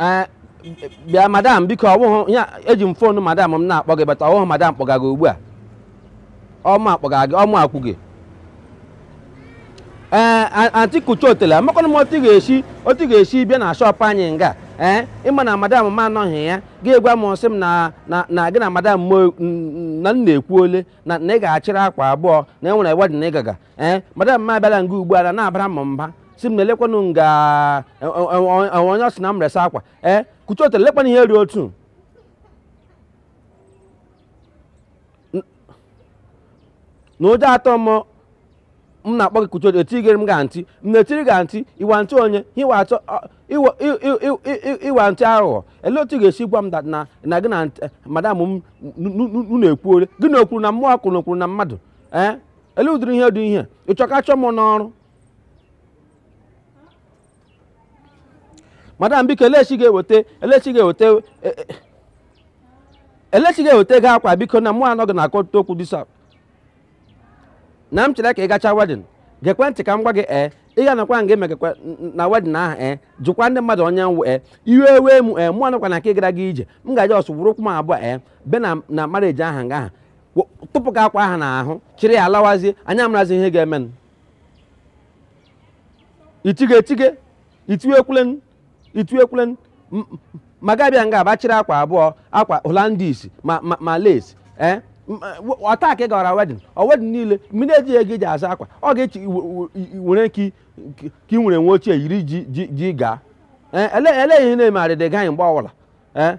Ee, bịa madam biko ọ wụhụ ya eji m phone madam m na-akpọ gị but ọ wụhụ madam kpọga gị ugbu a ọ mụ akpọga gị ọ mụ akpọ gị ee a- anti kucha otele amakwana m otu ị ga-esi otu ị ga-esi bịa na shop anyị nga ee ị ma na madam m anọghị ya gị gwa m sị m na na na gị na madam m o- n- n- na na ekwuole na na ị ga-achịrị akwa abụọ na i nwere wedding ị gaga ee eh, madam m abịala nga ugbu a na na-abara m mba sị m na elekwanụ nga e, e, e, onye ọ sị na m resa akwa ee eh, kucha otele lekwanụ ihe ri otu na ụjọ atọ m m na-akpọ gị kucha otele etigere m ga ntị m na-etiri ga ntị iwa ntị onye iwa atọ ịwa ntị aghụghọ ele otu ị ga-esi gwa m na na gị na madam m na-ekwuore gị na okwuru na mmụọ kwuru na okwuru na mmadụ ee eh? ele ụdịrị ihe dị ihe ị chọ ka a chụọ m n'ọrụ madam biko elechi ga-eweta elechi ga-eweta e- e- elechi ga-eweta gị akwa biko na mụ anọghị na akọta okwu disa na m chere ka ị gacha wedding gekwa ntị ka m gwa gị ee ị ga-anọkwa nga emegakwa na wedding ahụ ee jụkwa ndị mmadụ onye m wụ ee iwe ewe mụ ee mụ anọkwa na nke gara gị ije m ga-eji ọsọ were ụkwụ m abụọ ee bịa na na marriage ahụ nga ahụ wo- tụpụ gị akwa ahụ n'ahụ chịrị ya lawazie anyị amarazi ihe ga-emenụ itige etige itu ekwulen itu ekwulen M- m- ma ị ga-abịa nga bịa chịrị akwa abụọ akwa Hollandis ma ma, ma lace eh? M- eh, w- ọ taa ka ị gara wedding ọ wedding niile ma ị na-ejighị ego iji azụ akwa ọ ga-echi i- w- i- i- were ka i- ka i nwere uwe ochie yiri ji ji ji gaa Eh, ele ele ihe na-eme arịdị gaghị mgbe ọ wụla ee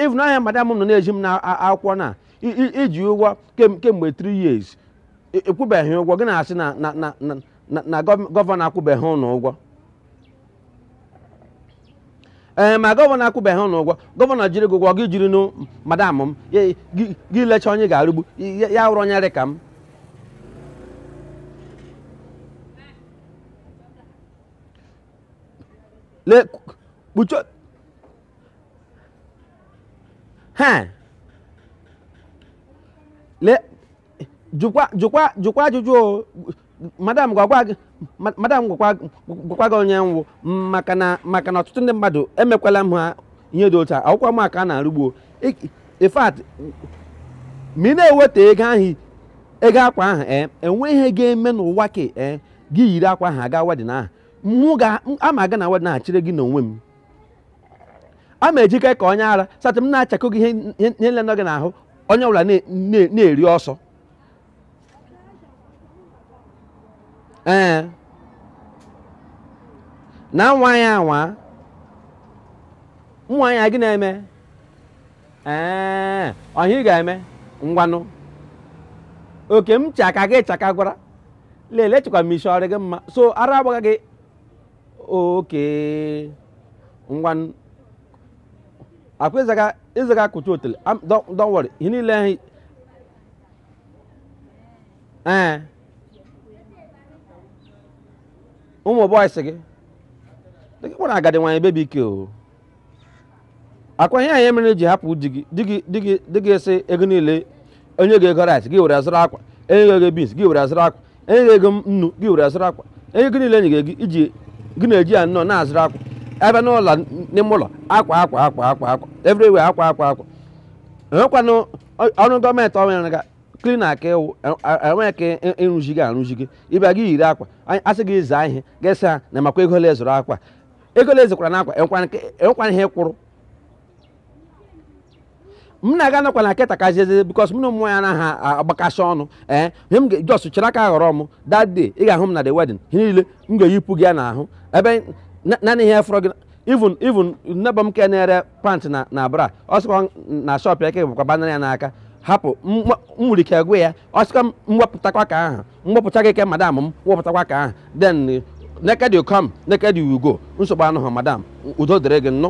even ihe madam nọ na-ezi m n'akwụkwọ na i ji ụgwọ kemgbe 3 years ị kwụbeghị ụgwọ gị na-asị na gọvanọ akwụbeghị ụnụ ụgwọ ee ma gọvanọ akwụbeghị ụnụ ụgwọ gọvanọ jiri gị ụgwọ gị jiri nụ madam m gị lecha onye ga-arụgbu ya wụrụ onye dị ka m le kpuchie ha le jụkwa jụkwa jụkwa ajụjụ o madam gwakwa gị ma- madam gwakwa gwakwa gị onye m wụ maka na maka na ọtụtụ ndị mmadụ emekwala m ha ihe dị otu a awụkwa m aka a na-arụgbu o Ik- in fact ma ị na-eweta ego ahụ ego akwa ahụ ee enwe ihe ga-eme n'ụwa ka ee gị yiri akwa ahụ aga wedding ahụ mụ ga ama aga na wedding ahụ chịrị gị n'onwe m a ma ejike ka onye ara satị m na-achakọ gị ihe ihe niile nọ gị n'ahụ onye ọbụla na- na- na-eri ọsọ ee na nwa ya anwa nwa ya gị na-eme ee ọ ihe ị ga-eme ngwanụ okay m chaka gị chaka gwara lele chekwa m isi ọ rị gị mma so ara agbaga gị okay ngwanụ akwa ịzaga ịzaga kụcha otele am- don't don't worry ihe niile ahụ ee ụmụ boys gị dịka kpọrọ agadi nwaanyị baby ike o akwa ihe anyị mere i ji hapụ di gị di gị di gị di gị sị ego niile o nye gị ego rice gị were azụrụ akwa enye gị ego beans gị were azụrụ akwa enye gị ego nnu gị were azụrụ akwa enye gị niile enye gị ego ji gị na-eji ya nnọọ na-azụrụ akwa a bịa n'ụlọ n'ime ụlọ akwa akwa akwa akwa akwa everywhere akwa akwa akwa enwekwanụ ọ- ọrụ gọọmenti ọrụ ya ga cleaner ka ị wụ enweghị ka ị- ịrụzi gị arụzi gị ị bịa gị eyiri akwa anyị- asị gị zaa ihe gị asị ha na makwa ego ole a zụrụ akwa ego ole a zụkwara n'akwa enwekwara nke- enwekwara ihe kwuru m na-aga nakwa na keta ka jeze because m na ụmụ ya anaghị a- agbakasị ọnụ ee ihe m ga- just chere aka ghọrọ m that day ị ga-ahụ m na the wedding ihe niile m ga-eyipụ gị ya n'ahụ ebe na- naanị ihe fọrọ gị even even neighbour m ke na-ere pant na na bra ọ sịkwa na shop ya ka bụkwa banana ya n'aka hapụ m nwa- m nwere ike gwa ya ọ sịkwa m wepụtakwa ka ahụ m gbapụcha gị ke madam m wepụtakwa ka ahụ then naked you come naked you go nsogbu anọghị madam udo dịrị gị nnụ